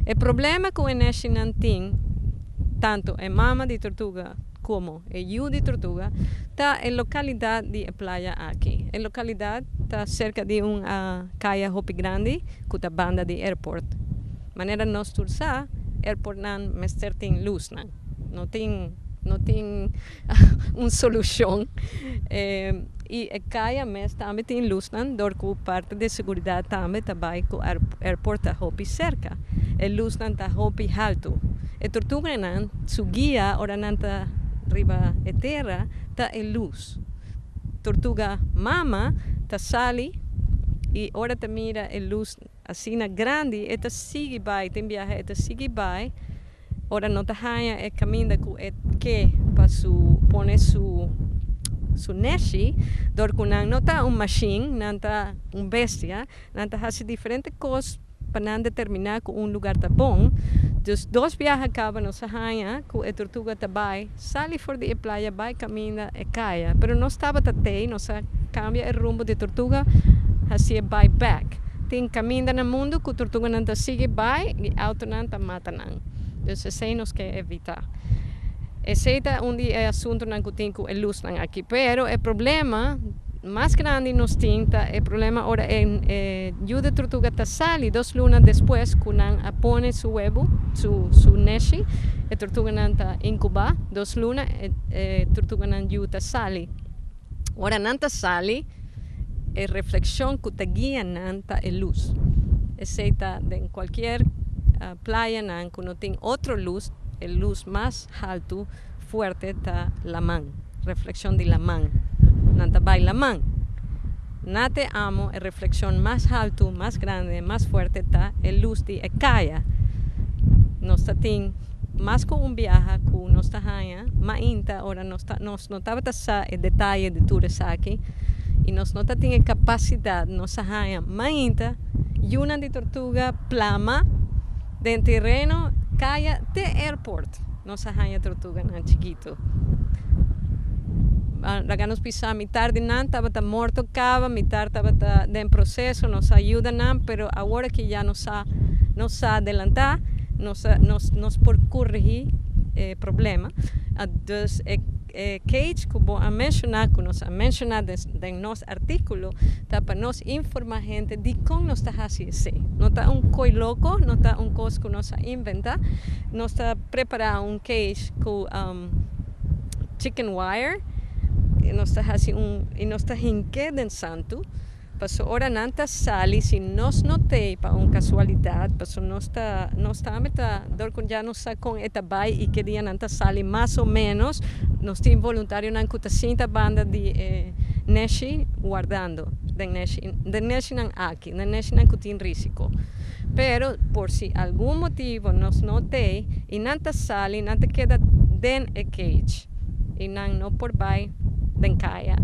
E problema ku e neshinan tin, tantu e mama di tortuga komo e yu di tortuga, ta e lokalidat di e playa aki. E lokalidat ta serka di un kaya hopi grandi ku ta banda di airport. Manera nos tur sa, airportnan mester tin lusnan. No tin, no tin. un solucion y e caya mes tambe tin lusnan dor cu parte de seguridad tambe ta bay cu airport ta hopi cerca e lusnan ta hopi halto e tortuganan su guia ora nan ta riba e tera ta e luz tortuga mama ta sali y ora ta mira e luz. Asina grandi e ta sigui bai, tin biaha e ta sigui bai, ora no ta haña e kaminda ku e ke pa su pone su su neshi, dor ku nan no ta un mashin, nan ta un bestia, nan ta hasi diferente kos pa nan determiná ku un lugar ta bon. Dus dos biaha kaba nos a haña ku e tortuga ta bai. Sali for di e playa bai caminda e caya, pero nos tabata tei, nos a cambia e rumbo di tortuga, haci'e bai back. Tin caminda na mundo cu tortuganan ta sigui bai y autonan ta mata nan. Dus esey nos ke evita. Esey ta un di e asuntonan cu tin cu e luznan aki. Pero e problema. mas grandi nos tin ta e problema ora e yu di trutuga ta sali dos luna despues ku nan a pone su webu, su su neshi, e trutuganan ta inkubá dos luna e e trutuganan yu ta sali. Ora nan ta sali e reflekshon ku ta guia nan ta e lus, esei ta den kualkier playanan ku no tin otro lus, e lus mas haltu. fuerte ta laman, reflexion di laman. Nan ta bai laman. Na te amo e reflexion mas haltu, mas grande, mas fuerte ta e lus di e kaya. Nos ta tin mas ku un biaha ku nos ta haña mainta ora nos ta nos no tabata sa e detaye di tur esaki i nos no ta tin e kapasidat. Nos a haña mainta yunan di tortuga plama den tereno kaya te airport. Nos a haña tortuganan chikitu. Laga nos pisa mitar di nan tabata morto kaba, mitar tabata den proseso, nos a yuda nan, pero awor aki ya nos sa nos sa adelantá, nos nos nos por korigí e problema. A dus e. E cage cu bo a menciona, cu nos a menciona den nos articulo, ta pa nos informa hende dicon nos ta haci esey. No ta un coy loco, no ta un cos cu nos a inventa. Nos ta prepara un cage cu chicken wire y nos ta haci un, y nos ta hinke den santu. Paso ora nan ta sali si nos no t'ei pa un casualidad, paso nos ta nos ta ami ta dor con dja no sa con e ta bai y ke dia nan ta sali mas o menos nos tin voluntarionan cu ta sinta banda di e neshi wardando den neshi den neshinan aki den neshinan cu tin risico pero por si algun motivo nos no t'ei y nan ta sali nan ta keda den e cage y nan no por bai den caya.